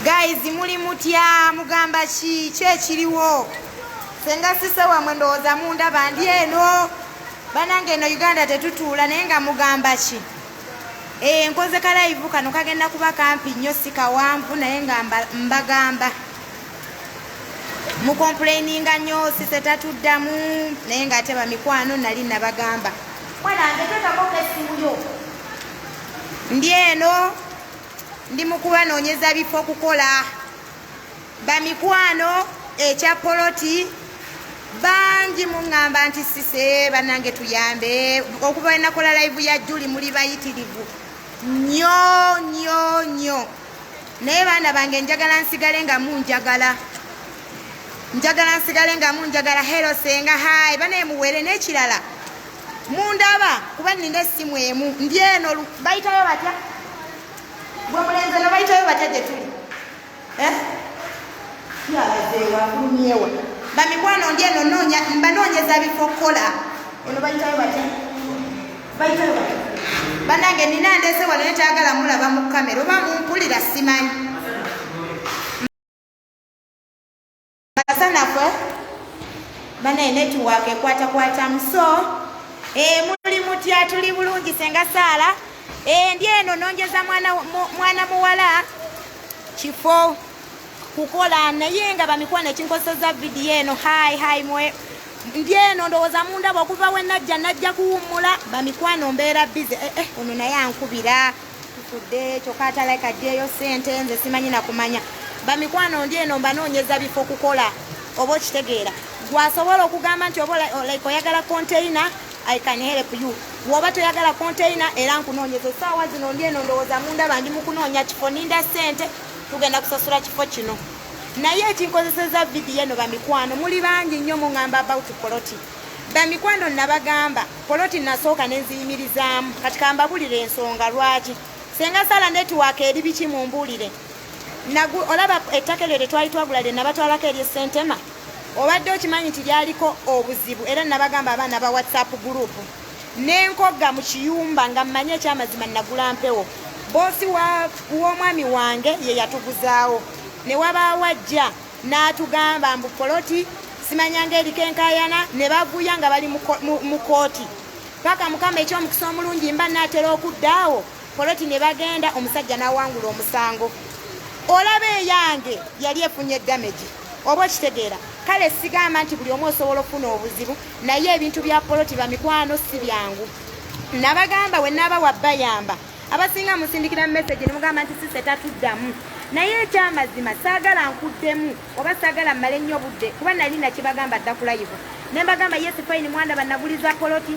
guys muli mutya mugamba ki ki ekiriwo senga sise wamwe ndowooza mundaba ndi eno banange eno uganda tetutuula naye nga mugamba ki eh, nkoze kalayivu kano kagenda kuba kampi nnyo sikawanvu naye nga mbagamba mukomplaininga nnyo sise tatuddamu naye nga ate bamikwano nali nabagamba ndi eno ndi mukubanoonyeza bifo kukola bamikwano ekya poloti bangi muŋŋamba nti sise bannange tuyambe okuva enakola laivu ya juli muli bayitirivu nyo nyo nyo naye baana bange njagala nsigale nga munjagala njagala nsigale nga munjagala hero senga hai banaye muwere n'ekirala mundaba kuba nina essimu emu ndi eno bayitayo batya gwe mulenzi no bayitayo batya gye tuli eh? yalazeewafulumyewa bamikwano ndi eno noonya mbanoonyeza bifo okukola eno bayitayo batya bayitayo batya banange nina ndese wano netayagala mulaba mu kamera oba mumpulira simanyi kasanafu eh? banaye netiwaaka ekwatakwatamu so eh, muli mutya tuli bulungi senga saala eh, ndi eno nonjeza mwana muwala kifo kukola naye nga bamikwano ekinkozeseza vidiyo eno hai hai mwe ndi eno ndowooza mundaba okuva wenajja najja kuwummula bamikwano mbeera bize eh, eh, ono naye ankubira tufudde kyokka atalaika ddeeyo ssente nze simanyi nakumanya bamikwano ndi eno mbanoonyeza bifo kukola oba okitegeera gwasobola okugamba nti oba like oyagala containa i can help you woba toyagala containa era nkunoonyeza esaawa zino ndi eno ndowooza munda bandi mukunoonya kifo ninda ssente tugenda kusasula kifo kino naye ekinkozeseza vidiyo eno bamikwano muli bangi nnyo muŋamba about poloti Bamikwano nabagamba poloti nasooka nenziyimirizaamu kati kambabulire ensonga lwaki senga sala netiwaaka eri biki mumbuulire olaba ettaka eryo lyetwali twagula lye nabatwalako erye sentema obadde okimanyi nti lyaliko obuzibu era nabagamba abaana ba whatsapp gurupu nenkogga mu kiyumba nga mmanyi ekyamazima nagula mpewo boosi w'omwami wange ye yatuguzaawo ne wabaawo ajja n'atugamba mbu poloti simanyanga eriko enkayana ne bavuya nga bali mu kooti paka mukama ekyomukisa omulungi mba naatera okudda awo poloti ne bagenda omusajja n'awangula omusango olaba eyange yali efunye damage oba okitegeera kale sigamba nti buli omu osobola okufuna obuzibu naye ebintu bya poloti bamikwano si byangu nabagamba we naaba wabayamba abasinga musindikira mu message ne mugamba nti sise tatuddamu naye ekyamazima saagala nkuddemu oba saagala mmale nnyo budde kuba nali nakibagamba dda kulayivu ne mbagamba yesi fayini mwanda banaguliza poloti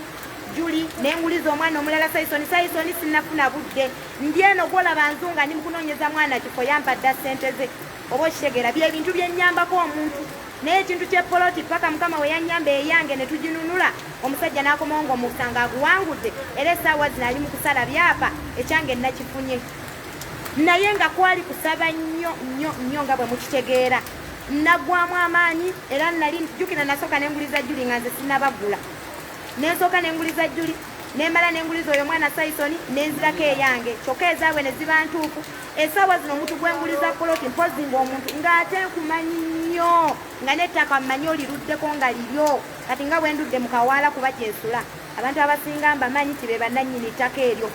juli nenguliza omwana omulala saisoni saisoni sinafuna budde ndi eno gwolaba nzunga ndi mukunoonyeza mwana kifo yampadda ssente ze oba okitegeera byebintu byenyambako omuntu Naye ekintu kye poloti paka mukama we yanyamba eyange ne tujinunula omusajja nakomawo nga omusanga aguwangudde era esaawa zino ali mu kusala byapa ekyange nakifunye naye nga kwali kusaba nnyo nnyo nnyo nga bwe mukitegeera nagwamu amaanyi era nali jukira nasooka nenguliza juli nga nze sinabagula nensooka nenguliza juli nemala nenguliza oyo mwana saisoni nenzirako eyange kyokka ezaabwe ne ziba ntuufu esaawa zino omuntu gwenguliza poloti mpozi ngaomuntu ngaate nkumanyi nnyo nga nettaka mmanyi oliruddeko nga liryo kati nga bwendudde mu kawaala kuba gyensula abantu abasinga mbamanyi nti be bannannyini ttaka eryo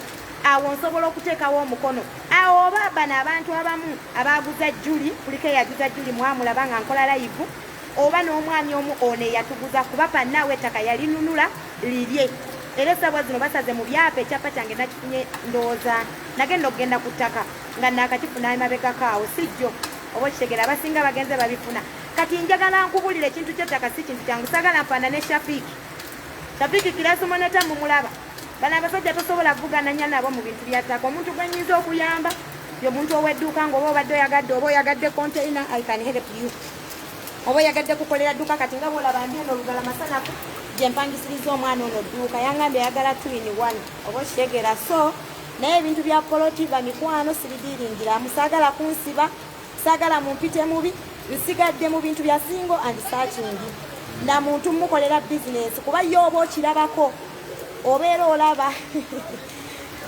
awo nsobola okuteekawo omukono awo oba bano abantu abamu abaaguza juli kuliko eyaguza juli mwamulaba nga nkola layivu oba n'omwami omu ono eyatuguza kuba bannaawe ettaka yalinunula lirye era esabwa zino basaze mu byapa ekyapa kyange nakifunye ndowooza nagenda okugenda ku ttaka nga naakakifuna emabegako awo si jjo oba okitegera abasinga bagenze babifuna kati njagala nkubulira ekintu kyettaka si kintu kyangu sagala nfaana ne shafiki shafiki kirasumoneta mumulaba bano abasajja tosobola kuvugananya nabo mu bintu bya ttaka omuntu gwenyinza okuyamba yomuntu owedduuka ngaoba obadde oyagadde oba oyagadde containa i can help you oba oyagadde kukolera dduuka kati nga bwolaba ndi eno olugala masanafu gye mpangisiriza omwana ono dduuka yangambye ayagala twin one oba okitegera so naye ebintu bya poloti bamikwano sibidiiringira musaagala kunsiba saagala mumpite mubi nsigadde mu bintu bya singo and sachingi na muntu mukolera bizinensi kuba ye oba okirabako obeera olaba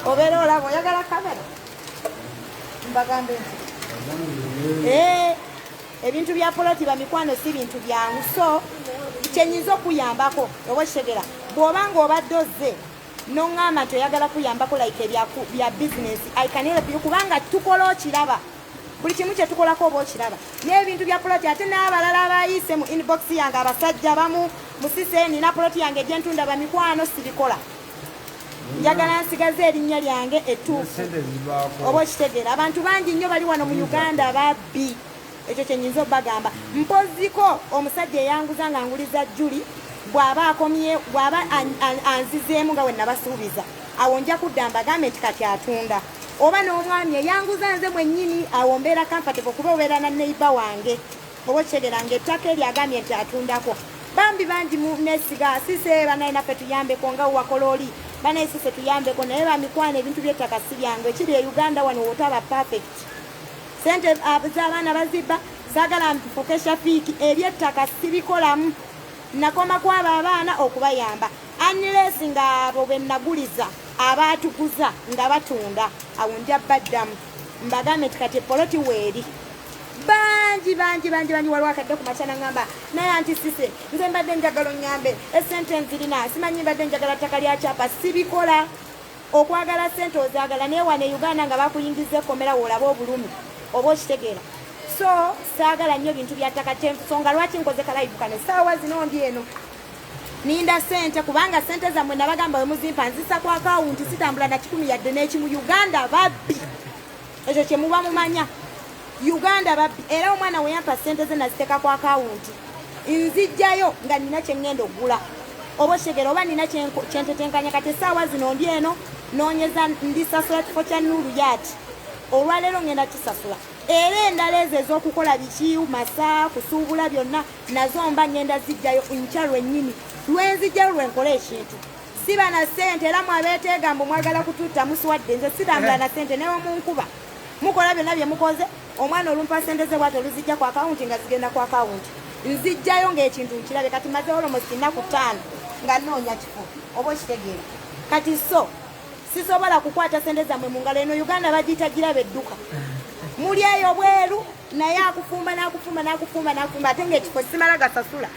obeera olaba oyagala kamera mbagambe nti eh, ebintu bya poloti bamikwano si bintu byangu so kyenyinza okuyambako oba kitegera bwoba nga obadde ozze noŋŋamba nti oyagala kuyambako like bya bizinesi ikanelpyo kubanga tukola okiraba buli kimu kyetukolako oba okiraba n'ebintu bya poloti ate n'abalala abayise mu inbox yange abasajja bamu musise nina poloti yange egyentunda bamikwano sibikola njagala nsigaze erinnya lyange ettuufu oba okitegeera abantu bangi nnyo bali wano mu uganda babbi ekyo kyenyinza obagamba mpoziko omusajja eyanguza nga nguliza juli bwaba akomye bwaba anzizeemu nga wenabasuubiza awo nja kudda mbagambe nti kati atunda oba n'omwami eyanguza nze mwennyini awo mbeera kamfate okuba obeera na neiba wange Owokyegera nga ettaka eryo agambye nti atundako bambi bangi munesiga sise banaye naffe tuyambeko nga wakola oli banaye sise tuyambeko naye bamikwana ebintu byettaka si byangu ekiri e uganda wano wotaba perfect sente ah, zabaana bazibba sagala mbifuke shafiiki ebyettaka sibikolamu nakoma kwabo abaana okubayamba anles nga abo benaguliza abaatuguza nga batunda awo nja baddamu mbagambe nti kati epoloti weeri bangi bangi bangi bangi waliwo akadde ku makyana ngamba naye anti sise nze mbadde njagala onyambe esente nzirina simanyi mbadde njagala ttaka lya kyapa sibikola okwagala sente ozagala naye wane uganda nga bakuyingiza ekomera woolaba obulumi oba okitegeera so saagala nnyo bintu bya ttaka kyensonga lwaki nkoze kalayivu kano esaawa zino ndi eno ninda sente kubanga sente zammwe nabagamba wemuzimpa nzisa kwakawunti sitambula na kikumi yadde n'ekimu uganda babbi ekyo kyemuba mumanya uganda babbi era omwana weyampa sente ze naziteeka ku akawunti nzijjayo nga nina kyeŋŋenda okugula oba okitegera oba nina kyentetenkanya kati esaawa zino ndi eno nonyeza ndisasula kifo kya nuluyaati olwaleero ŋŋenda kisasula era endala ezo ez'okukola biki masa kusuubula byonna nazo mba ŋŋenda zijjayo nkya lwennyini lwenzijjayo lwenkole ekintu siba na sente era mwabeteega mbu mwagala kututta muswadde nze sitambula eh. na sente newomunkuba mukola byonna bye mukoze omwana olumpa sente ze bwati oluzijja ku akawunti nga zigenda ku akawunti nzijjayo ngaekintu nkirabe kati maze olomosi nnaku ttaano nga noonya kifo oba okitegeera kati so sisobola kukwata sente zammwe mu ngalo eno uganda bagiyita girabe edduka muli eyo bweru naye akufumba nakufumba nakufumba nakufumba ate ngaekifo simala gasasula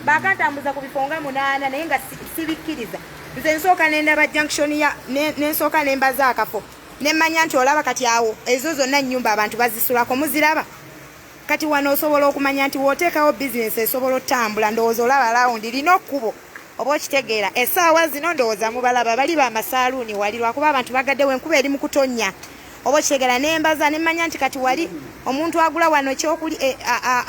bakantambuza ku bifo nga munaana naye nga sibikkiriza nze nsooka nendaba junction ya nensooka ne nembaza akafo nemmanya nti olaba kati awo ezo zonna nnyumba abantu bazisulako muziraba kati wano osobola okumanya nti woteekawo bizinesi esobola otambula ndowooza olaba lawundi lina okkubo oba okitegeera esaawa zino ndowooza mubalaba bali bamasaaluuni wali lwakuba abantu bagaddewo enkuba eri mu kutonnya oba okitegeera nembaza nemmanya nti kati wali omuntu agula wano kyokuli eh,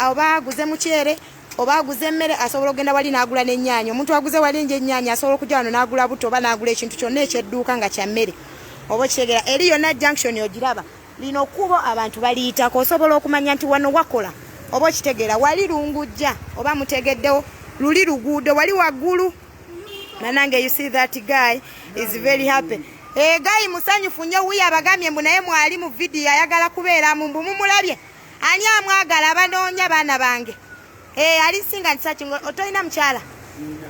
oba aguze mukyere oba aguze emmere asobola okugenda wali n'agula n'ennyaanya omuntu aguze wali enje ennyaanya asobola okujja wano n'agula butto oba n'agula ekintu kyonna ekyedduuka nga kya mmere oba okitegera eri yonna junction ogiraba lino kubo abantu baliyitako osobola okumanya nti wano wakola oba okitegeera wali lungujja oba mutegeddewo luli luguudo wali waggulu nanange you see that guy is very happy egayi eh, musanyufu nnyo wuyo abagambye mbu naye mwali mu vidiyo ayagala kubeeramu mbu mumulabye Ani amwagala abanoonya baana bange ee eh, alisinga ntisaki otolina mukyala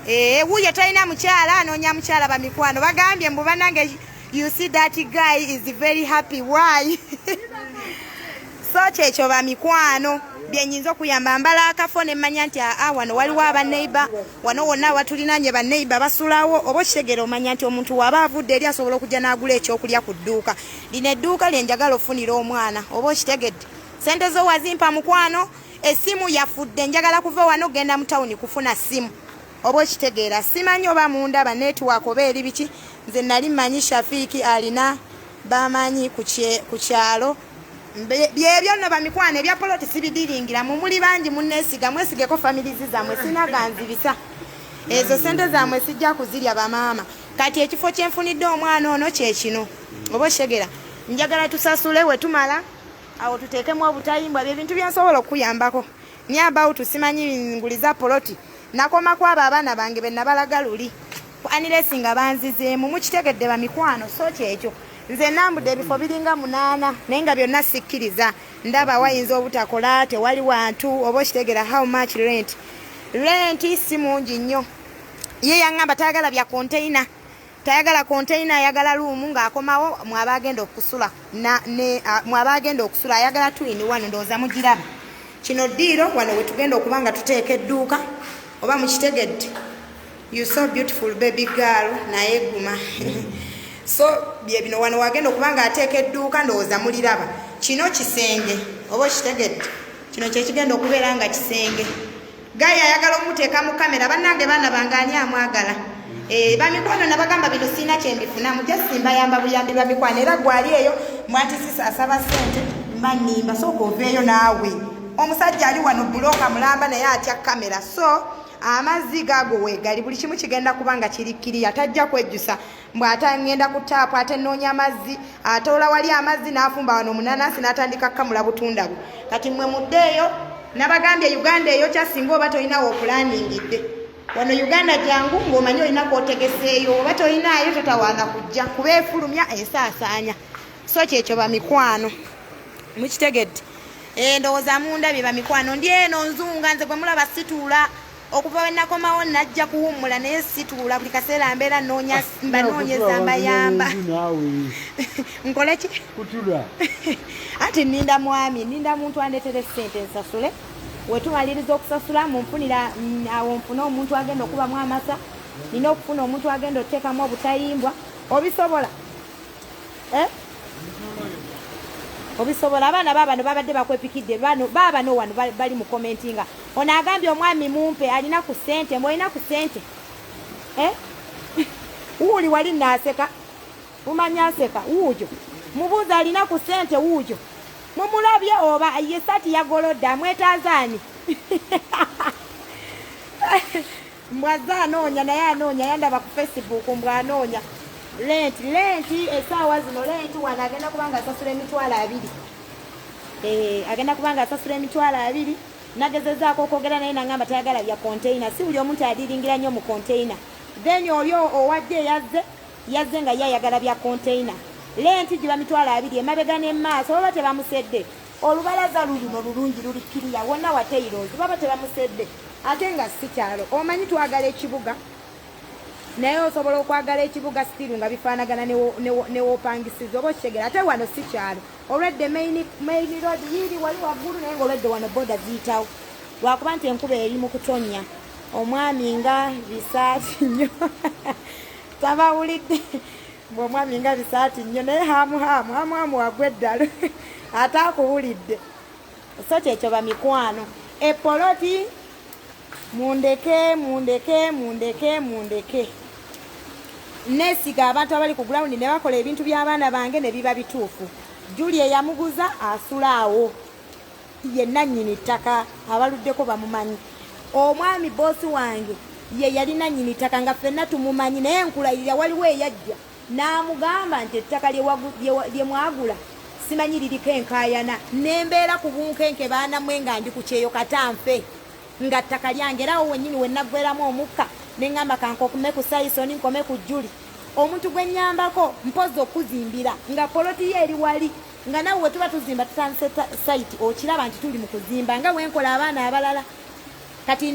ee eh, wuyo tolina mukyala anoonya mukyala bamikwano bagambye mbu banange you see that guy is very happy why so kyekyo bamikwano byenyinza okuyamba mbala akafo nemmanya nti aa ah, ah, wano waliwo abaneighbor wano wonna awatulinanye baneiba basulawo oba okitegera omanya nti omuntu waba avudde eri asobola okujja n'agula ekyokulya ku dduuka lino edduuka lyenjagala ofunira omwana oba okitegedde sente zo wazimpa mukwano esimu yafudde njagala kuva wano ogenda mu tawuni kufuna simu oba okitegeera simanyi oba mundaba netiwaaka oba eri biki nze nali manyi shafiiki alina bamanyi ku kyalo byebyo no bamikwano ebya poloti sibidiringira mumuli bangi munesiga mwesigeko familizi zamwe sinaganzibisa ezo sente zamwe sijja kuzirya bamaama kati ekifo kyenfunidde omwana ono kyekino oba oshegera njagala tusasule wetumala awo tuteekemu obutayimbwa byebintu byensobola okukuyambako ni about simanyi nguliza poloti nakoma kwabo abaana bange benabalaga luli Anilesi nga banzizeemu mukitegedde bamikwano so kyekyo nze nambude ebifo biringa munaana naye nga byonna sikkiriza ndaba wayinza obutakola tewali wantu oba okitegera how much rent rent si mungi nnyo ye yaŋŋamba tayagala bya konteina tayagala konteina ayagala luumu ng'akomawo mwaba agenda okusula mwaba agenda okusula ayagala twini wano ndowooza mugiraba kino ddiiro wano wetugenda okuba nga tuteeka edduuka oba mukitegedde You so beautiful baby girl naye guma so bye bino wano wagenda okuba nga ateeka edduuka ndowooza muliraba kino kisenge oba okitegedde kino kyekigenda okubeera nga kisenge gayi ayagala omuteeka mu kamera bannange baana bange ani amwagala eh, bamikwano nabagamba bino siina kyembifunamu jasimbayamba buyambi bwa mikwano era gwali eyo mwatisisa asaba sente mba nimba sooka oveeyo naawe omusajja ali wano buloka mulamba naye atya kamera so amazzi gaago weegali buli kimu kigenda kuba nga kiri kiriya tajja kwejjusa mbw ate ngenda ku taapu ate nnoonya amazzi atoola wali amazzi n'afumba wano omunanansi n'atandika kukamula butunda bwe kati mmwe muddeeyo nabagambye uganda eyo kyasinga oba tolinawo okulandingidde wano uganda jangu ng'omanyi olina kwotegeseeyo oba tolinaayo totawaana kujja kuba efulumya esaasaanya so kyekyo bamikwano mukitegedde eh, ndowooza mundabye bamikwano ndi eno nzunga nze gwemulaba situula okuva wenakomawo najja kuwummula naye situula buli kaseera mbeera noonya ah, mbanoonyeza mbayamba nkole ki anti ninda mwami ninda muntu andetere sente nsasule wetumaliriza okusasula munfunira mm, awo nfune omuntu agenda okubamu amasa nina okufuna omuntu agenda oteekamu obutayimbwa obisobola eh? obisobola abaana babano babadde bakwepikidde baaba no wano bali mu komenti nga ono agambye omwami mumpe alina ku sente mwolina ku sente eh? wuuli wali naaseka mumanya aseka wuujo mubuuza alina ku sente wuujo mumulabye oba ye sati yagolodde amwetaazaani mbwazze anoonya naye anoonya yandaba ku facebook mbw anoonya lenti lenti esaawa zino lenti wano agenda kubanga asasula emitwalo abiri eh, agenda kubanga asasula emitwalo abiri nagezezaako okwogera naye nangamba tayagala bya containa si buli omuntu adiringira nnyo mu containa then oli owadde eyazze yazze nga ye ayagala bya containa lenti giba mitwalo abiri emabega nemaaso oba tebamusedde olubalaza luluno lulungi luli kiriya wonna wateirozi baba tebamusedde ate nga si kyalo omanyi twagala ekibuga naye osobola okwagala ekibuga sitiru nga bifaanagana newopangisiza oba okitegera ate wano si kyalo olwedde maini road yiiri wali waggulu naye nga olwedde wano boda ziyitawo lwakuba nti enkuba eri mu kutonnya omwami nga bisaati nnyo tabawulidde Mbu omwami nga bisaati nnyo naye haamu haamu haamu haamu wagwa eddalu ate akuwulidde so kyekyo bamikwano epoloti mundeke mundeke mundeke mundeke nesiga abantu abali ku gulawundi ne bakola ebintu by'abaana bange ne biba bituufu juli eyamuguza asula awo ye nannyini ttaka abaluddeko bamumanyi omwami boosi wange ye yali nannyini ttaka nga ffenna tumumanyi naye nkulayirira waliwo eyajja n'amugamba nti ettaka lye mwagula simanyi liriko enkaayana nembeera ku bunkenke baanamwe nga ndi ku kyeyo katanfe nga ttaka lyange era awo wennyini we nnaggweramu omukka ne ŋŋamba kankokume ku sayisoni nkome ku juli omuntu gwe nnyambako mpozi okuzimbira nga poloti ye eri wali nga nawe wetuba tuzimba tutandise site okiraba nti tuli mu kuzimba nga wenkola abaana abalala kati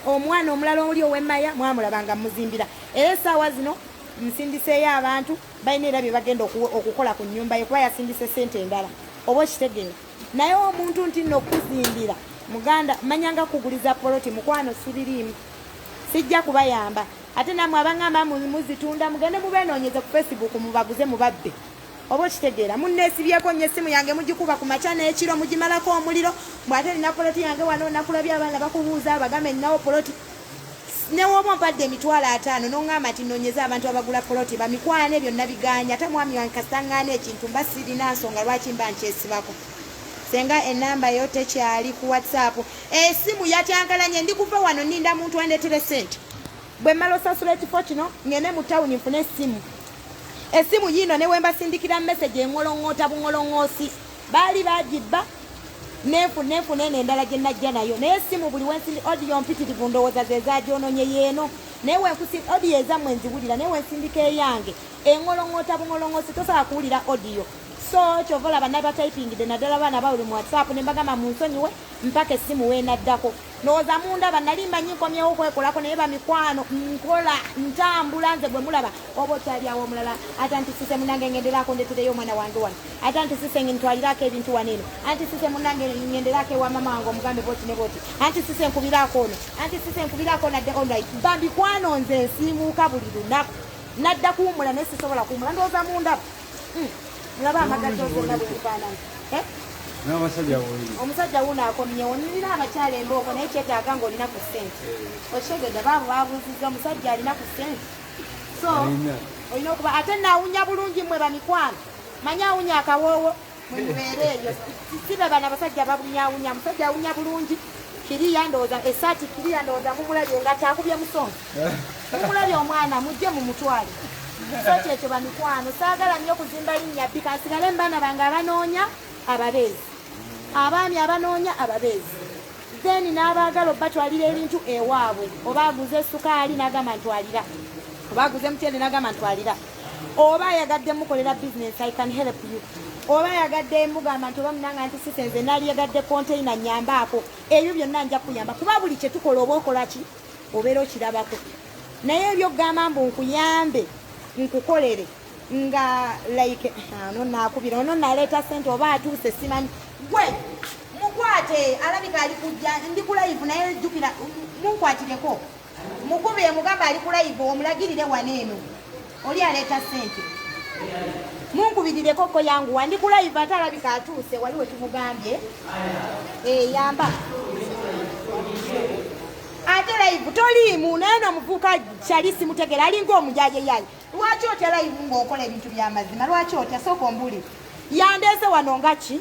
omwana omulala oli owemaya mwamulabanga muzimbira era esaawa zino nsindiseeyo abantu balina era bye bagenda okukola ku nyumba ye kuba yasindise sente endala oba okitegeera naye omuntu nti nno okuzimbira muganda manyanga kuguliza poloti mukwano sibiriimu sijja kubayamba ate namwe abangamba muzitunda mugende mubenonyeze ku facebook mubaguze mubabbe oba okitegeera munneesibyeko nnyo essimu yange mugikuba ku makya n'ekiro mugimalako omuliro mbwate nina poloti yange wano nakulabye abaana bakubuuza abagambe ninawo poloti newooba ompadde emitwalo ataano noŋŋamba nti nonyeza abantu abagula poloti bamikwane byonna biganye ate mwami wange kasitaŋŋaana ekintu mba sirina nsonga lwaki mba nkyesibako senga enamba yo tekyali ku whatsapp esimu yatyankalanye ndi kuva wano ninda muntu andetere sente Bwe mmala osasula ekifo kino ng'ende mu tawuni nfune essimu. Essimu yiino ne wembasindikira mesegi engolong'oota bungolong'oosi. Baali baagibba nenfu nenfuna eno endala gye najja nayo naye essimu buli wensindi odiyo mpitirivu ndowooza ze zaagyononye yeeno naye wenkusi odiyo ezammwe nziwulira naye wensindika eyange engolong'oota bungolong'oosi tosobola kuwulira odiyo so kyova olaba nabatayipingidde naddala baana bawuli mu whatsapp ne mbagamba munsonyiwe mpaka essimu wenaddako ndowooza mundaba nali mbanyi nkomyewo okwekolako naye bamikwano nkola ntambula nze gwe mulaba oba okyalyawo omulala ate anti sise munange ngenderako ndetereyo omwana wange wano ate anti sise ntwalirako ebintu wano eno anti sise munange ngenderako ewa mama wange omugambe boti ne boti anti sise nkubirako ono anti sise nkubirako nadde onlit bambikwano nze nsiimuuka buli lunaku nadda kuwumula naye sisobola kuwumula ndowooza mundaba mulaba amagazi ozonna bwebifaanana eh? omusajja wuno akomyewo nina abakyala embooko naye kyetaaga nga olina ku sente eh. okitegedde baabo babuuzizza omusajja alina ku sente so olina okuba ate naawunya bulungi mwe bamikwano manye awunya akawoowo mwemubeera eyo sibe bana basajja babunyawunya musajja awunya bulungi kiriya ndowooza esaati kiriya ndowooza mumulabye nga kyakubye musonga mumulabye omwana mujje mu mutwale so kyekyo bamikwano saagala nnyo kuzimba linnya bbi kansigale mbaana bange abanoonya ababeezi abaami abanoonya ababeezi then n'abaagala obatwalira ebintu ewaabwe oba aguze esukaali n'agamba ntwalira oba aguze mutyende n'agamba ntwalira oba ayagadde mukolera business i can help you oba ayagadde mugamba nti oba munanga nti sise nze nali yagadde container nyambaako ebyo byonna nja kuyamba kuba buli kye tukola oba okola ki obeera okirabako naye ebyo okugamba mbu nkuyambe nkukolere nga like ah, ono nakubira ono naleeta sente oba atuuse simanyi gwe mukwate alabika ali kujja ndi kulayivu naye jjukira munkwatireko Mukube yamugamba ali ku live omulagirire wano eno oli aleeta sente munkubirireko ko yangu wandi ku live ate alabika atuuse wali wetumugambye eh, yamba ate live toliimu naye nomuvuuka kyali simutegera alinga omujaje yaye lwaki otya live ngaokola ebintu byamazima lwaki otya sooka ombuli yandeese wano nga ki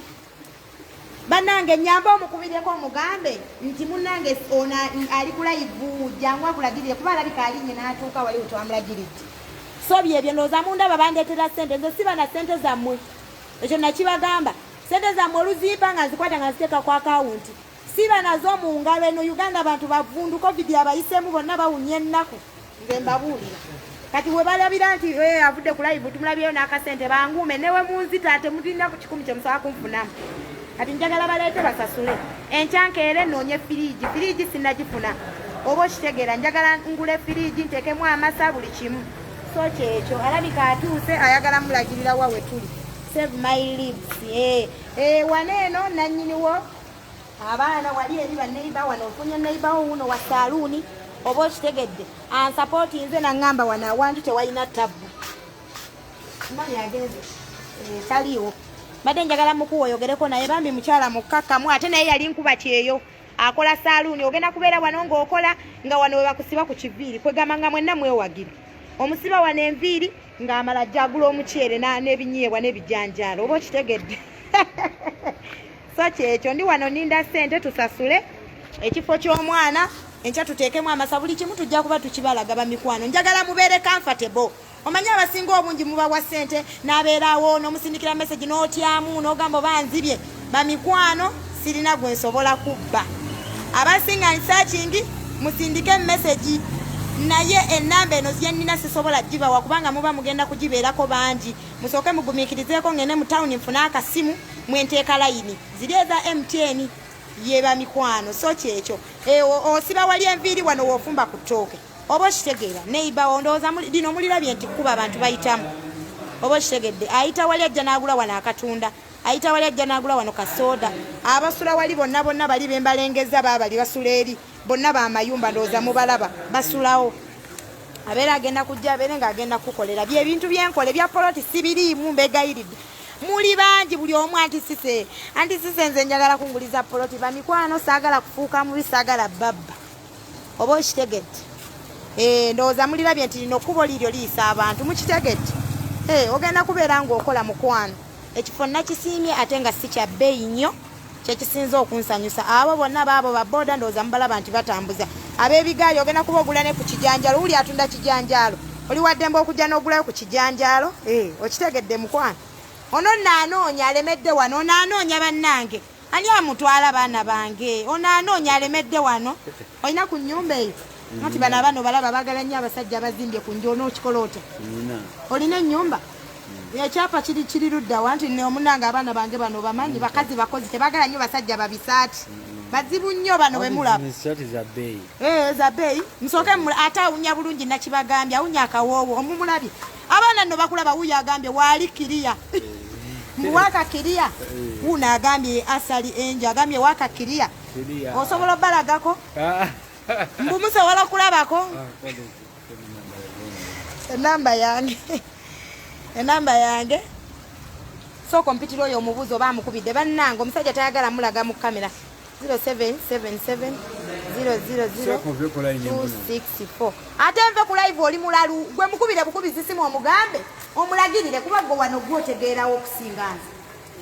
banange nyambe omukubireko omugambe nti munange ona ali kulayivu jangu akulagirire kuba alabika alinye natuuka wali wetwamulagiridde so byebyo ndooza mundaba bandetera sente nze siba na sente zammwe ekyo nakibagamba sente zammwe oluzimpa nga nzikwata nga nziteeka ku akawunti Siba nazo mu ngalo eno Uganda abantu bavundu covid abayisemu bonna bawunya ennaku nze mbabuulira kati we balabira nti eh, avudde ku live tumulabyeyo n'akasente banguume newe munzita ate mulinda ku kikumi kye musaba kunfunamu kati njagala baleete basasule enkyankeere noonye firiigi firiigi sinagifuna oba okitegeera njagala ngule firiigi nteekemu amasa buli kimu so kyekyo alabika atuuse ayagala mulagirira wa we tuli save my lips eh, eh, wano eno nannyiniwo abaana wali eri baneiba wano ofunye neiba wo wuno wa saluuni oba okitegedde ansapooti nze naŋŋamba wano awantu tewalina tabbu mani agenze eh, taliiwo mbadde njagala mukuwa oyogereko naye bambi mukyala mukkakkamu ate naye yali nkuba kyeyo akola saluuni ogenda kubeera wano ng'okola nga wano we bakusiba ku kiviiri kwegamba nga mwenna mwewagire omusiba wano enviiri ng'amala jagula omuceere n'ebinyeebwa n'ebijanjaalo oba okitegedde so kyekyo ndi wano ninda sente tusasule ekifo ky'omwana enkya tuteekemu amasa buli kimu tujja kuba tukibalaga bamikwano njagala mubeere comfortable omanyi abasinga obungi mubawa sente nabeerawo nomusindikira message notyamu nogamba oba nzibye bamikwano sirina gwe nsobola kubba abasinga nsakingi musindike message naye enamba eno zyenina sisobola gibawa kubanga muba mugenda kugibeerako bangi musooke mugumikirizeeko ngende mu tawuni nfune akasimu mwenteeka layini ziri eza mtn yeba mikwano so kyekyo eh, osiba wali enviiri wano wofumba ku ttooke oba okitegeera neibawo ndowooza lino mulirabye nti kuba abantu bayitamu oba okitegedde ayita wali ajja n'agula wano akatunda ayita wali ajja n'agula wano kasooda abasula wali bonna bonna bali bembalengeza baabali basula eri bonna bamayumba ndowooza mubalaba basulawo abeera agenda kujja abeere nga agenda kukukolera byebintu byenkola ebya poloti sibiriimu mbegayiridde muli bangi buli omu antisise antisise nze njagala kunguliza poloti bamikwano saagala kufuuka mubi saagala babba oba okitegedde eh, ndowooza mulirabye nti lino kkubo liiryo liyisa abantu mukitegedde eh, ogenda kubeera ngaokola mukwano ekifo nakisiimye ate nga si kya bbeeyi nnyo kyekisinza okunsanyusa abo bonna baabo baboda ndowooza mubalaba nti batambuza abebigaali ogenda kuba ogula ne ku kijanjaalo wuli atunda kijanjaalo oli waddembe okujja n'ogulayo ku kijanjaalo eh, okitegedde mukwano ono naanoonya alemedde wano onaanoonya bannange ani amutwala baana bange onaanoonya alemedde wano olina ku nyumba eyo nti bano abana obalaba bagala nnyo abasajja abazimbye ku nju onookikola otya olina ennyumba mm. ekyapa kiri kiri luddawa nti omunange abaana bange bano bamanyi bakazi bakozi tebagala nnyo basajja babisaati mm. bazibu nnyo bano bemulaba eh, za beeyi musooke ate awunya bulungi nakibagambye awunya akawoowo omumulabye abaana nno bakulaba wuyo agambye waali kiriya eh. mbu waka kiriya eh. wuuno agambye asali enjo agambye waka kiriya osobola obalagako ah. mbu musobola okulabako ah, enamba yange enamba yange sooka ompitira oyo omubuuzi oba amukubidde bannange omusajja tayagala mulaga mu kamera 0777 000 ate nve ku live oli mulalu gwe mukubire bukubizi simu omugambe omulagirire kuba gwe wano gwotegeerawo okusinga nze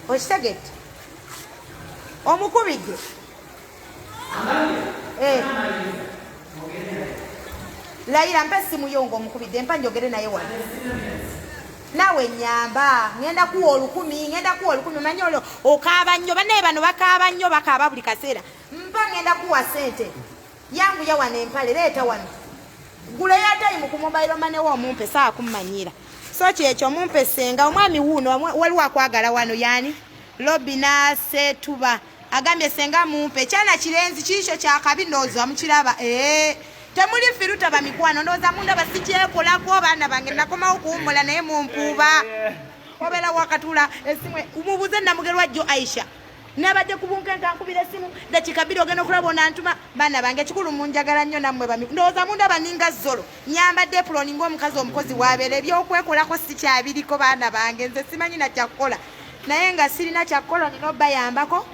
okitegedde omukubidde eh. layira mpa essimu yo nga omukubidde mpa njogere naye wano nawe nyamba ngenda kuwa olukumi ngenda kuwa olukumi manyi olwo okaaba nnyo banaye bano bakaaba nnyo bakaaba buli kaseera mpa ngenda kuwa sente Yanguya wano empale leeta wano. Gula ya time ku mobile money wo mumpe saa kummanyira. So kyekyo mumpe senga omwami wuuno waliwo akwagala wano yani Lobina Setuba agambye senga mumpe kyana kirenzi kiisho kyakabi ndowooza mukiraba ee temuli firuta bamikwano ndowooza munda basikyekolako abaana bange nakomawo kuwummula naye mumpuuba obeera wakatula esimu mubuuze namugerwa jjo aisha nabadde ku bunkenke ankubira esimu dakika bbiri ogenda okulaba onantuma baana bange ekikulu munjagala nnyo nammwe bami ndowooza mundaba ninga zolo nyambadde epuloni ngaomukazi omukozi wabeera ebyokwekolako sikyabiriko baana bange nze simanyi nakyakukola naye nga sirina kyakukola nina obayambako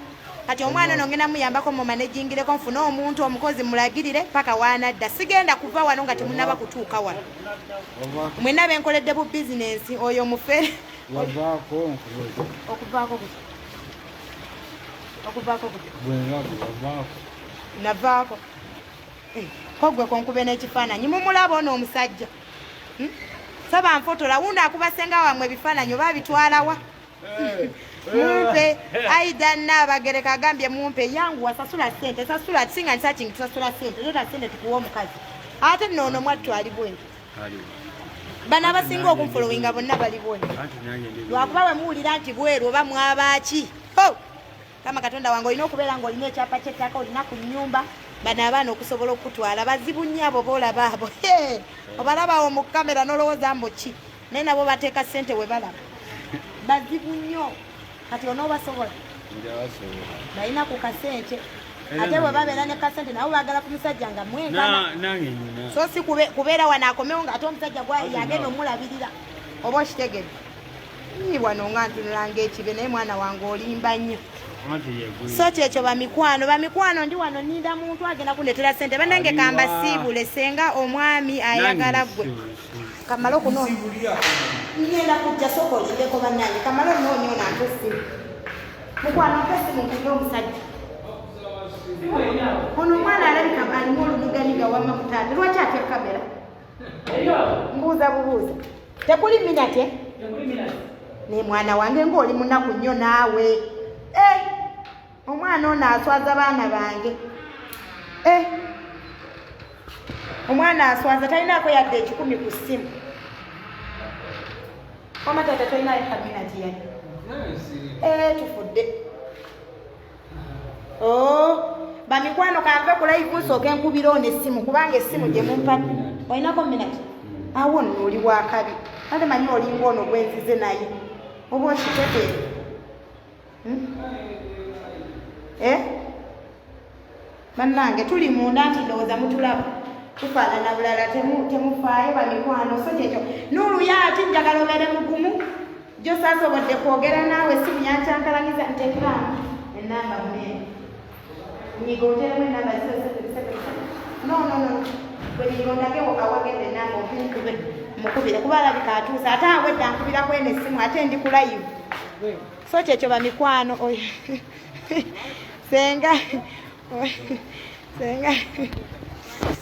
kati omwana ono ngenda muyambako mumanejingireko nfune omuntu omukozi mulagirire paka wanadda sigenda kuva wano nga temunaba kutuuka wano mwena benkoledde bu bizinensi oyo mufere okuvaako okuvaako navaako eh, kogwe konkube n'ekifaananyi mumulaba ono omusajja hmm? saba nfotola wundi akuba senga wamwe ebifaananyi oba abitwalawa eh. mumpe aida nabagereka agambye mumpe yangu wasasula sente sasula singa nsachingi tusasula sente zota sente tukuwa omukazi ate nono mwattu ali bwenti bano abasinga okunfolowinga bonna bali bwoni lwakuba bwe muwulira nti bweru oba mwabaaki ho kama katonda wange olina okubeera nga olina ekyapa kyettaka olina ku nyumba bano abaana okusobola okutwala bazibu nnyo abo boolaba abo obalabawo mu kamera nolowooza mbuki naye nabo bateeka ssente we balaba bazibu nnyo kati onoobasobola balina ku kasente ate bwe babeera ne kasente nabo baagala ku musajja nga mwenkana so si kubeera wano akomewo nga ate omusajja yagenda omulabirira oba okitegedde yi wano nga ntunula ngaekibe naye mwana wange olimba nnyo so kyekyo bamikwano bamikwano ndi wano ninda muntu agenda kundetera sente banange kambasiibule senga omwami ayagala gwe kamala okunoonya ngenda kujja sooka okiddeko bannange kamala onoonya ono ate essimu mukwano ate essimu nkunya omusajja ono omwana alabika alimu olumiganiga wamma mutaata lwaki atya kamera mbuuza bubuuza tekuli minate naye mwana wange ng'oli munaku nnyo naawe eh! omwana ono aswaza baana bange eh. omwana aswaza talinaako yadde ekikumi ku ssimu wama tata tolinayo kabina giyali eh, tufudde oh, bamikwano kanve kulaivu nsooke nkubira ono essimu kubanga essimu gyemumpani olinako minati awo nno oli wakabi ate manyi olinga ono gwenzize naye oba okiteteere hmm? eh? bannange tuli munda nti ndowooza mutulaba tufaanana bulala temufaayo bamikwano so kyekyo nuuluya ati njagala obeere mugumu jo saasobodde kwogera naawe simu yankyankalanyiza ntekiramu enamba munene nyiga oteremu enamba zisesebisebe no no no bwe nyiga ondagewo awagenda enamba omunkube mukubire kuba alabika atuuse ate awedde ankubira kwene essimu ate ndi kulayivu so kyekyo bamikwano oyo senga senga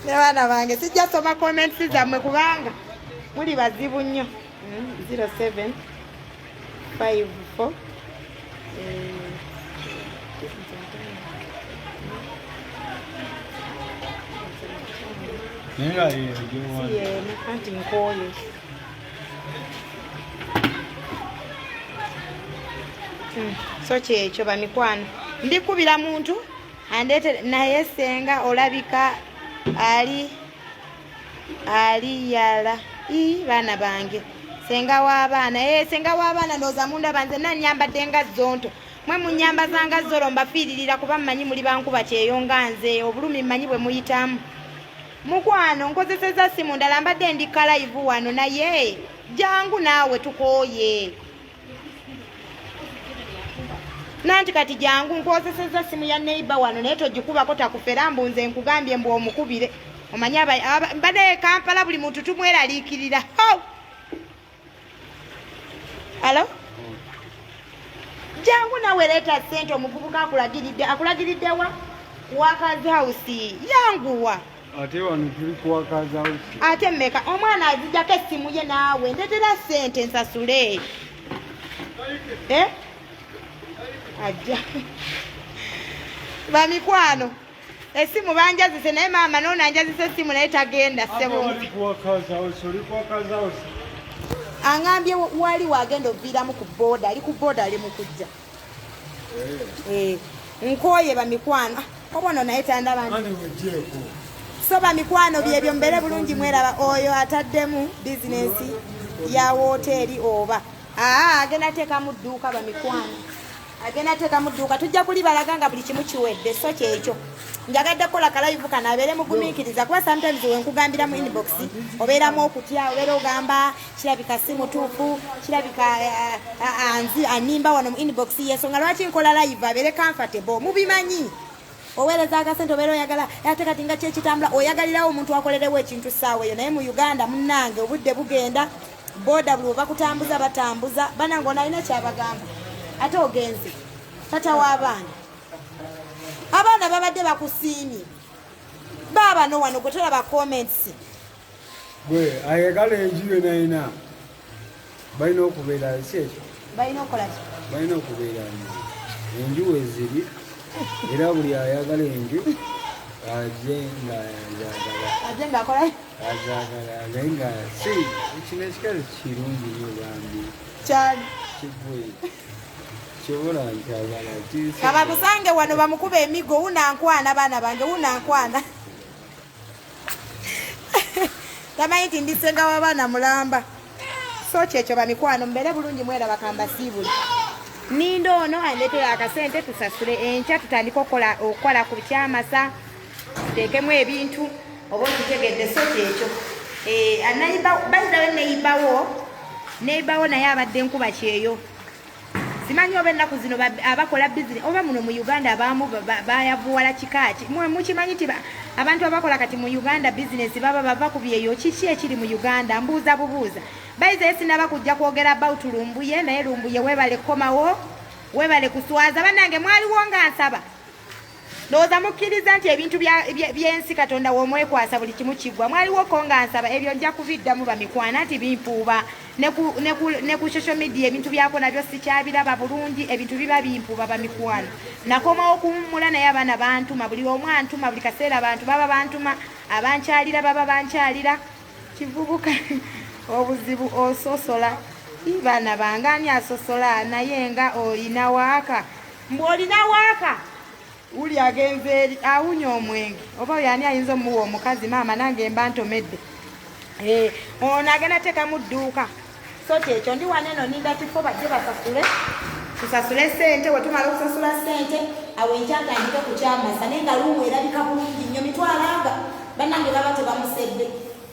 nebaana bange sijja soma comments zammwe kubanga muli bazibu nnyo 07 5 4 Yeah, yeah, yeah. See, yeah, I can't even call you. Hmm, so kyekyo bamikwano ndikubira muntu andete naye senga olabika ali ali yala i baana bange senga w'abaana e eh, senga w'abaana ndowooza mundaba nze nanyambadde nga zonto mwe munyamba zanga zolo mbafiiririra kuba mmanyi muli bankuba kyeyo nga nze obulumi mmanyi bwe muyitamu Mukwano nkozeseza simu ndala mbadde ndi kalaivu wano naye jangu naawe tukooye nanti kati jangu nkozeseza simu ya neiba wano naye togikubako takufera mbu nze nkugambye mbu omukubire omanye mbadde kampala buli muntu tumweraliikirira Hello? Jangu nawe leeta sente omuvubuka akulagiridde akulagiridde wa wakazi house yanguwa ate wano tuli ku wakazi house ate mmeka omwana azijako essimu ye naawe ndetera sente nsasule eh? ajja bamikwano esimu banjazise naye maama noona anjazise esimu naye tagenda sebo angambye wali wagenda oviiramu ku booda ali ku booda ali mukujja eh. eh, nkooye bamikwano ah, obono naye tandaba so bamikwano byebyo mbeere bulungi mweraba oyo ataddemu bizinesi ya wooteeri oba aa ah, agenda teekamu dduuka bamikwano agenda teeka mu dduuka tujja kulibalaga nga buli kimu kiwedde so kyekyo njagadde kukola kalayivu kano abeere mugumiikiriza kuba sometimes wenkugambira mu inbox obeeramu okutya obeera ogamba kirabika si mutuufu kirabika eh, eh, eh, anzi animba wano mu inbox yensonga lwaki nkola layivu abeere comfortable mubimanyi oweereza akasente obeera oyagala ate kati nga kyekitambula oyagalirawo omuntu akolerewo ekintu ssaawa eyo naye mu uganda munnange obudde bugenda boda buli webakutambuza batambuza banange onalina kyabagamba ate ogenze tata w'abaana abaana babadde bakusiimye baabano wano gwe tolaba comments gwe ayagala enju yonayina balina okubeera si ekyo balina okukola ki balina okubeera enju weziri era buli ayagala enju aje nga azagala aje nga akola azagala naye nga si kino ekikazi kirungi nyo bambi kyali kigwe kabamusange wano bamukuba emigo wunankwana abaana bange wunankwana tamanyi nti ndi senga wabaana mulamba so kyekyo bamikwano mubeere bulungi mwera bakamba siibuli ninda ono andetera akasente tusasule enkya tutandika okukola ku kyamasa tuteekemu ebintu oba okitegedde so kyekyo eh, bayidawe neyibawo neyibawo naye abadde nkuba kyeyo simanyi oba ennaku zino abakola bizine oba muno mu uganda abaamu bayavuwala kikaaki mukimanyi nti abantu abakola kati mu uganda bizinesi baba bava ku byeyo kiki ekiri mu uganda mbuuza bubuuza bayizaye sinaba kujja kwogera about lumbuye naye lumbuye webale kukomawo webale kuswaza banange mwaliwo nga nsaba ndowooza mukkiriza nti ebintu by'ensi katonda w'omwekwasa buli kimu kiggwa mwaliwoko nga nsaba ebyo nja kuviddamu bamikwana nti bimpuuba ne ku social media ebintu byako nabyo sikyabiraba bulungi ebintu biba bimpuuba bamikwano nakomawo okuwummula naye abaana bantuma buli omu antuma buli kaseera bantu baba bantuma abankyalira baba bankyalira kivubuka obuzibu ososola baana bange ani asosola naye nga oyina waaka mbu olina waaka wuli agenze eri awunya omwenge oba oyo ani ayinza omuwa omukazi maama nange mba ntomedde eh, ono agenda teekamu dduuka so kyekyo ndi wana eno ninda kifo bajje basasule tusasule sente wetumala okusasula sente awo enkyatandike kukyamasa naye nga luumu erabika bulungi nnyo mitwalanga banange baba tebamusedde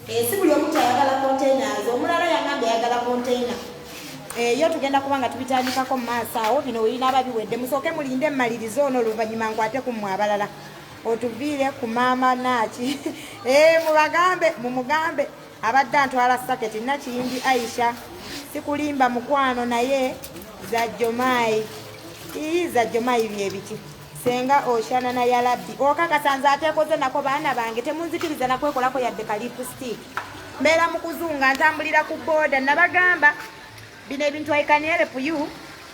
eh, si buli omu kyayagala containers omulala yangamba eyagala container eyo tugenda kuba nga tubitandikako mu maaso awo bino webinaaba biwedde musooke mulinde mmaliriza ono oluvannyuma nkwate ku mmwe abalala otuviire ku maama naaki eh, mubagambe mumugambe abadde antwala saketi nakiyimbi aisha sikulimba mukwano naye zajjomaayi ii zajjomaayi byebiki senga oshanana yalabbi okakasanze atekoze nako baana bange temunzikiriza nakwekolako yadde kalipustik mbeera mu kuzunga ntambulira ku booda nabagamba bino ebintu aikanere puyu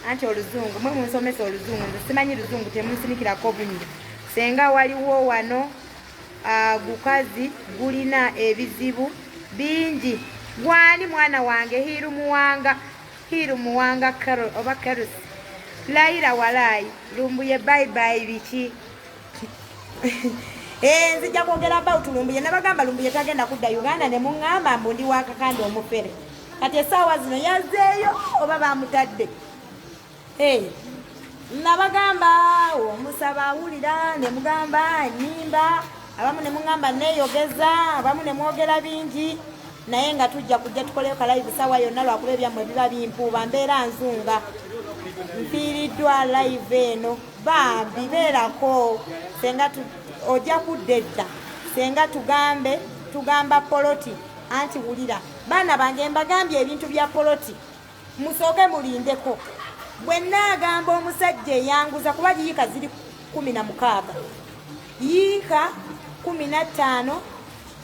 anti oluzungu mwe munsomesa oluzungu nze simanyi luzungu temunsinikirako bunyi senga waliwo wano ah, gukazi gulina ebizibu bingi gwani mwana wange hiru muwanga hiru muwanga oba kerusi layira walaayi lumbuye bayibayi biki Eh, nzija kwogera about lumbuye nabagamba lumbuye tagenda kudda uganda ne muŋŋamba mbu ndi wakakanda omufere kati esaawa zino yazeeyo oba bamutadde eh, nabagamba omusaba awulira ne mugamba nyimba abamu ne muŋŋamba neeyogeza abamu ne mwogera bingi naye nga tujja kujja tukoleyo kalayivu saawa yonna lwakuba ebyammwe biba bimpuuba mbeera nzunga mfiiriddwa layivu eno bambi beerako senga ojja kudda edda senga tugambe tugamba poloti anti wulira baana bange mbagambye ebintu bya poloti musooke mulindeko bwe naagamba omusajja eyanguza kuba yiika ziri kumi na mukaaga yiika kumi na ttaano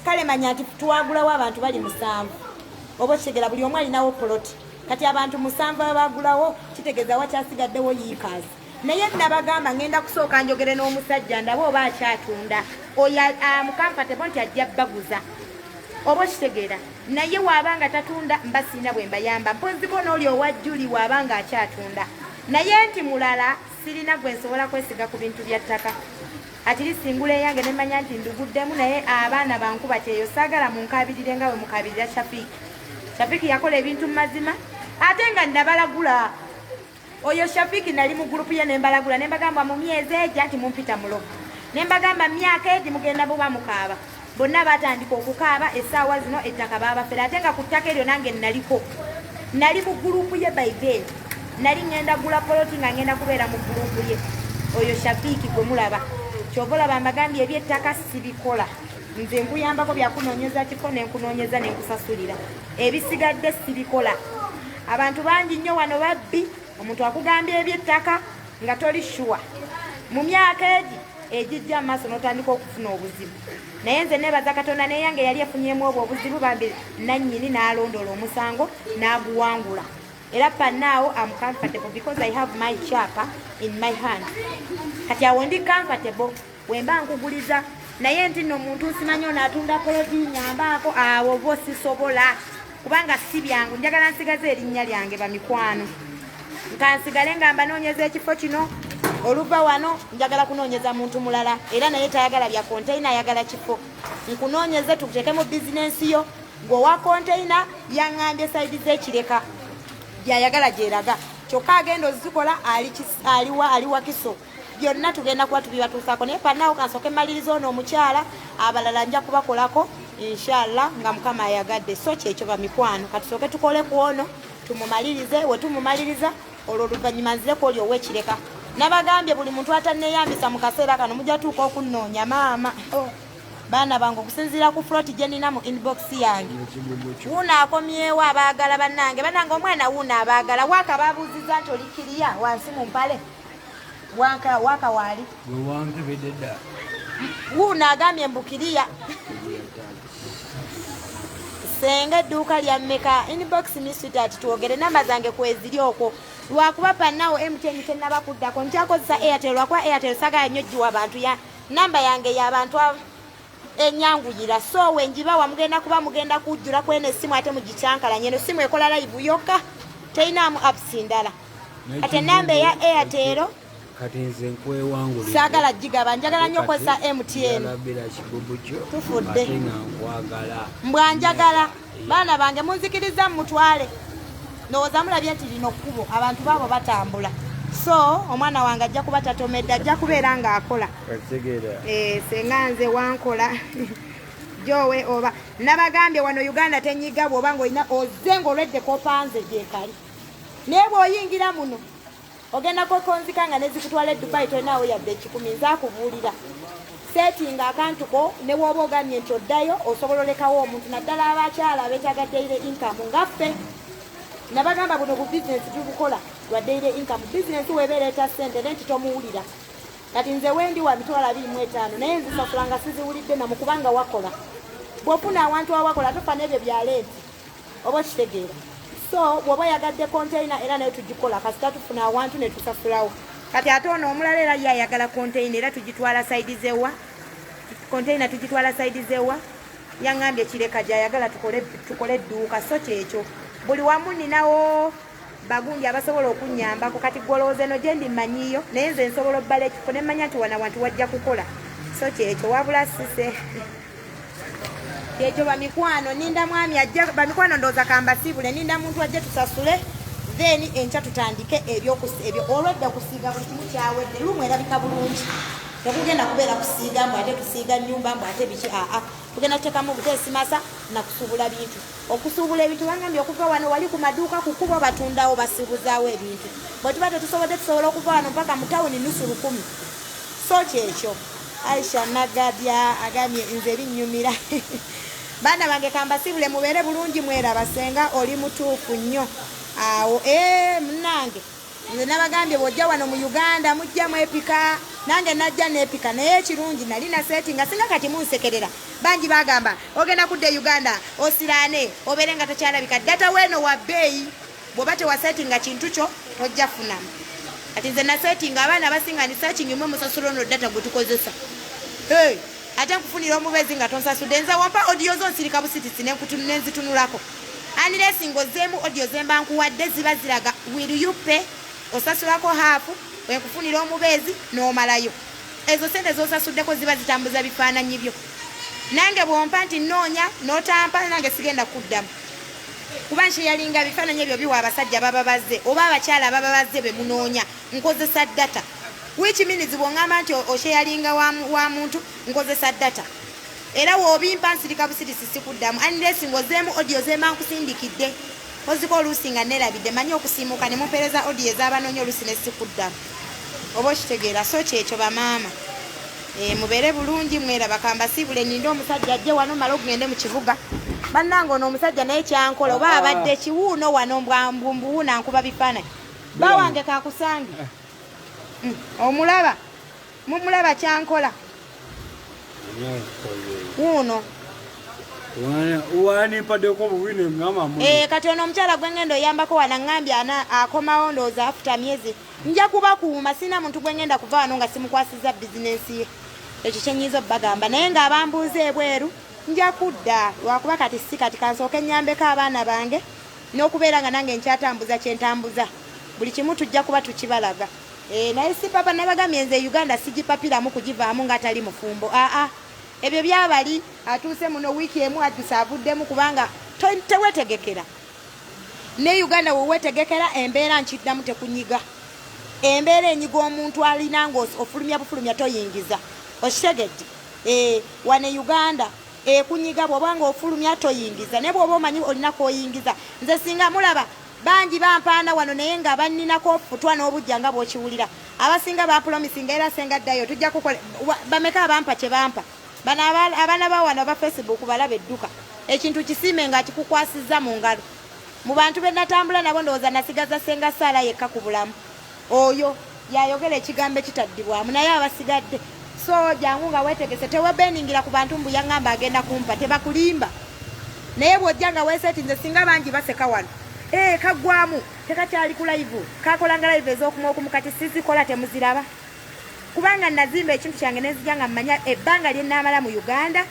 kale manya nti twagulawo abantu bali musanvu oba okitegera buli omu alinawo poloti kati abantu musanvu abagulawo kitegeza wakyasigaddewo yiikazi naye nabagamba ngenda kusooka njogere n'omusajja ndaba oba akyatunda oyo amukampatebo ah, nti ajja baguza oba okitegeera naye waaba nga tatunda mba siina bwe mbayamba mponziko n'oli owa juli waaba nga akyatunda naye nti mulala sirina gwe nsobola kwesiga ku bintu bya ttaka Atiri singula eyange ne manya nti nduguddemu naye abaana bankuba kyeyo saagala munkabirire nga bwe mukabirira Shafik. Shafik yakola ebintu mu mazima ate nga nabalagula oyo Shafik nali mu gurupu ye nembalagula nembagamba mu myezi egyo anti mumpita mulogo nembagamba myaka egi mugenda buba mukaaba. bonna batandika okukaaba essaawa zino ettaka baabafere ate nga ku ttaka eryo nange naliko nali mu gulupu ye by then nali ŋŋenda gula poloti nga ŋŋenda kubeera mu gulupu ye oyo shafiiki gwe mulaba kyova olaba mbagambye ebyettaka sibikola nze nkuyambako byakunoonyeza kiko nenkunoonyeza nenkusasulira ebisigadde sibikola abantu bangi nnyo wano babbi omuntu akugambye ebyettaka nga toli shuwa mu myaka egi egijja amaaso n'otandika okufuna obuzibu naye nze nebaza katonda naye yange yali efunyemu obwo obuzibu bambi nannyini n'alondoola omusango n'aguwangula era panaawo am comfortable because i have my chapa in my hand kati awo ndi comfortable wemba nkuguliza naye nti no muntu nsimanyi ono atunda poloti nyambaako awo bo sisobola kubanga si byangu njagala nsigaze erinnya lyange bamikwano nkansigale nga mbanoonyeza ekifo kino oluva wano njagala kunoonyeza muntu mulala era naye tayagala bya konteyina ayagala kifo nkunoonyeze tukuteeke mu bizinensi yo ng'owa konteyina yaŋŋambye sayidi z'ekireka byayagala gyeraga kyokka agenda ozikola aliwa aliwakiso byonna tugenda kuba tubibatuusaako naye panaawo kansooke maliriza ono omukyala abalala nja kubakolako inshallah nga mukama ayagadde so kyekyo bamikwano katusooke tukole ku ono tumumalirize wetumumaliriza olwo oluvannyuma nzireku oli owekireka nabagambye buli muntu ataneyambisa mu kaseera kano mujja tuuka okunnoonya maama oh. baana bange okusinziira ku frot gyenina mu inbox yange wuuno akomyewo abaagala bannange bannange omwana wuuno abaagala waaka babuuziza nti olikiriya wansi mu mpale Waka waka wali. Wange bededa. Huu nagamye mbukiria. Senga edduuka lya mmeka inbox me sweetheart twogere namba zange kweziri okwo lwakuba panawo mtn tenaba kuddako nkyakozesa airtel lwakuba airtel sagala nnyo giwa bantu ya namba yange yabantu abo enyanguyira so wenjiba wamugenda kuba mugenda kujjula kwena essimu ate mugikyankalanye eno simu ekola layivu yokka teyinaamu apps ndala kati enamba eya airtero kati nze nkwewangula saagala gigaba njagala nnyo okozesa mtn tufudde mbwa njagala baana bange munzikirizza mumutwale ndowooza mulabye nti lino kkubo abantu baabo batambula so omwana wange ajja kuba tatomedde ajja kubeera ng'akola eh, senga nze wankola jowe oba nabagambye wano uganda tenyiga bwoba ngaolina oze ngaolwedde kopanze gyekali naye bwoyingira muno ogenda kwekonzika nga nezikutwala e dubai tolinaawo yadde ekikumi nze akubuulira setinga akantuko ne wooba ogambye nti oddayo osobola olekawo omuntu naddala abakyala betaaga daily income ngaffe nabagamba buno bu bizinesi tubukola lwa daily income bizinesi webeera eta sente ne nti tomuwulira kati nze wendi wa mitwalo abiri mu etaano naye nzisasulanga siziwulidde namu kubanga wakola bwofuna awantu awakola tofa n'ebyo byaleeti oba okitegeera so bwoba yagadde containa era nayo tugikola kasita tufuna awantu netusasulawo kati ate ono omulala era ye ayagala containa era tugitwala saidi zewa containa tugitwala saidi zewa yangambye kireka gyayagala tukole edduuka so kyekyo buli wamu ninawo bagundi abasobola okunyambako kati gwolowooza eno gyendi mmanyiiyo naye nze nsobola obbala ekifo ne mmanya nti wana wantu wajja kukola so kyekyo wabula sise kyekyo bamikwano ninda mwami ajja bamikwano ndowooza kambasiibule ninda muntu ajje tusasule then enkya tutandike ebyo olwedde okusiiga buli kimu kyawedde lumu erabika bulungi tekugenda kubeera kusiiga mbu ate tusiiga nnyumba mbu ate biki aa tugenda tuteekamu obuteesimasa nakusubula bintu okusuubula ebintu bangambye okuva wano wali ku maduuka ku kubo batundawo basiibuzaawo ebintu bwe tuba tetusobodde tusobola okuva wano mpaka mu tawuni nusu lukumi so kyekyo aisha nagabya agambye nze binnyumira baana bange kambasiibule mubeere bulungi mweraba senga oli mutuufu nnyo awo ee eh, munange Nze nabagambye bwojja wano mu Uganda mujja mwepika nange najja nepika naye ekirungi nali na seti nga singa kati munsekerera bangi bagamba ogenda kudda e Uganda osiraane obeere nga takyalabika data weeno wa bbeeyi bwoba tewaseti nga kintu kyo tojja funamu kati nze naseti nga abaana abasinga ni searching mwe musasula ono data gwetukozesa hey. ate nkufunira omubezi nga tonsasude nze wampa odiyo zo nsirika busitisi nenzitunulako anilesi ngaozeemu odiyo zemba nkuwadde ziba ziraga will you pay osasulako haafu wenkufunira omubeezi n'omalayo ezo sente zosasuddeko ziba zitambuza bifaananyi byo nange bwompa nti noonya notampa nange sigenda kuddamu kuba nkyeyalinga bifaananyi ebyo biwa abasajja baba bazze oba abakyala baba bazze bemunoonya nkozesa data which means bwongamba nti osheyalinga wa, wa muntu nkozesa data era wobimpa nsirika busirisi sikuddamu unless ngozeemu odio zemba nkusindikidde oziko oluusi nga nerabidde manyi okusiimuka ne mumpereza odio ezabanoonya oluusi ne sikuddamu oba okitegeera so kyekyo bamaama e, mubeere bulungi mwera bakambasiibule ninde omusajja ajje wano mala okugende mu kibuga bannanga ono omusajja naye kyankola oba abadde kiwuuno wano mbwambuwuuna nkuba bifaananyi bawange kakusange mm, omulaba mumulaba kyankola wuuno eh, kati ono omukyala gwengenda oyambako wana ngambye akomawo ndowooza afuta myezi nja kubakuuma sirina muntu gwengenda kuva wano nga simukwasiza bizinensi ye ekyo kyenyiiza obubagamba naye nga abambuuza ebweru nja kudda lwakuba kati si kati kansooka ennyambeko abaana bange N'okubeera nga nange nkyatambuza kye ntambuza, buli kimu tujja kuba tukibalaga. Eeh naye Sipapa nabagambye nze Uganda sigipapiramu kugivaamu nga atali mufumbo aa ebyo byabali. Atuuse muno wiiki emu adduse avuddemu kubanga tewetegekera ne Uganda wewetegekera embeera nkiddamu tekunyiga embeera enyiga omuntu alina nga ofulumya bufulumya toyingiza okitegedde eeh wano e Uganda. ekunyiga bwoba nga ofulumya toyingiza naye bwoba omanyi olina koyingiza nze singa mulaba bangi bampaana wano naye nga banninako ofutwa n'obujja nga bwokiwulira abasinga bapulomisinga era senga ddayo tujja kukola bameka abampa kye bampa bano abaana ba wano aba facebook balaba edduka ekintu kisiime nga kikukwasizza mu ngalo mu bantu be natambula nabo ndowooza nasigaza senga saala yekka ku bulamu Oyo yayogera ekigambo ekitaddibwamu naye abasigadde so jangu nga wetegese tewebeningira ku bantu mbu yangamba agenda kumpa tebakulimba naye bwojja nga wesetinze singa bangi baseka wano ee eh, kaggwamu tekakyali ku laivu kakolanga laivu ez'okuma okumu kati sizikola temuziraba kubanga nazimba ekintu kyange nenzija nga mmanya ebbanga lye naamala mu uganda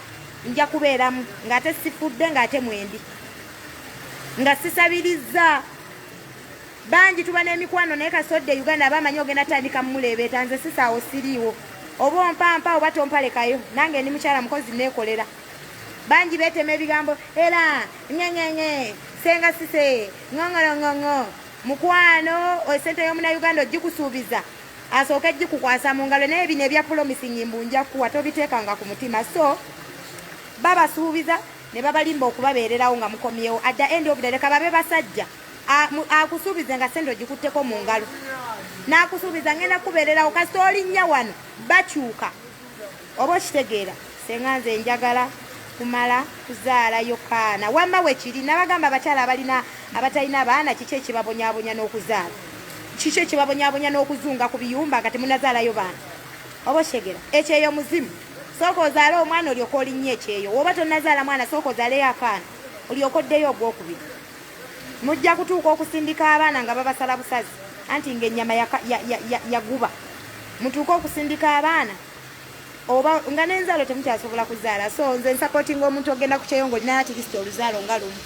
nja kubeeramu ng'ate sifudde ng'ate mwendi nga sisabirizza Bangi tuba n'emikwano naye kasita odda e Uganda aba amanyi ogenda tandika mumuleebeeta nze sisaawo siriiwo oba ompampa oba tompalekayo nange ndi mukyala mukozi neekolera bangi beetema ebigambo era ŋeŋeŋe senga sise ŋoŋoloŋoŋo mukwano esente y'omunauganda ogikusuubiza asooke gikukwasa mu ngalo naye bino ebya promising mbu nja kuwa tobiteekanga ku mutima so babasuubiza ne babalimba okubabeererawo nga mukomyewo adda endi obudaleka babe basajja akusuubize nga sente ogikutteko mu ngalo n'akusuubiza ngenda kubeererawo kasita olinnya wano bakyuka oba okitegeera senga nze njagala kumala kuzaala yokaana wamma wekiri nabagamba abakyala abalina abatalina abaana kiki ekibabonyabonya n'okuzaala kiki ekibabonyabonya n'okuzunga ku biyumba nga temunazaalayo baana oba okitegeera ekyeyo muzimu sooka ozaale omwana olyoka olinnya ekyeyo woba tonazaala mwana sooka ozaaleyo akaana olyoka oddeyo ogwokubiri mujja kutuuka okusindika abaana nga babasala busazi anti ngaenyama yaguba mutuuke okusindika abaana oba nga nenzaalo temukyasobola kuzaala so nze nsapotinga omuntu ogenda kukyeyo nga olinayo atirisiti oluzaalo nga lumu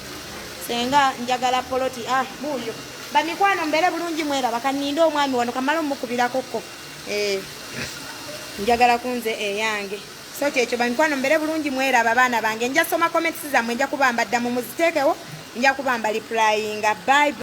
senga njagala poloti ah buuyo bamikwano mbeere bulungi mwera bakaninde omwami wano kamala omukubirako ko eh, njagala kunze eyange so kyekyo bamikwano mbere bulungi mweraba abaana bange nja soma comments zamwe nja kubamba dda mumuziteekewo nja kubamba lipurayinga bye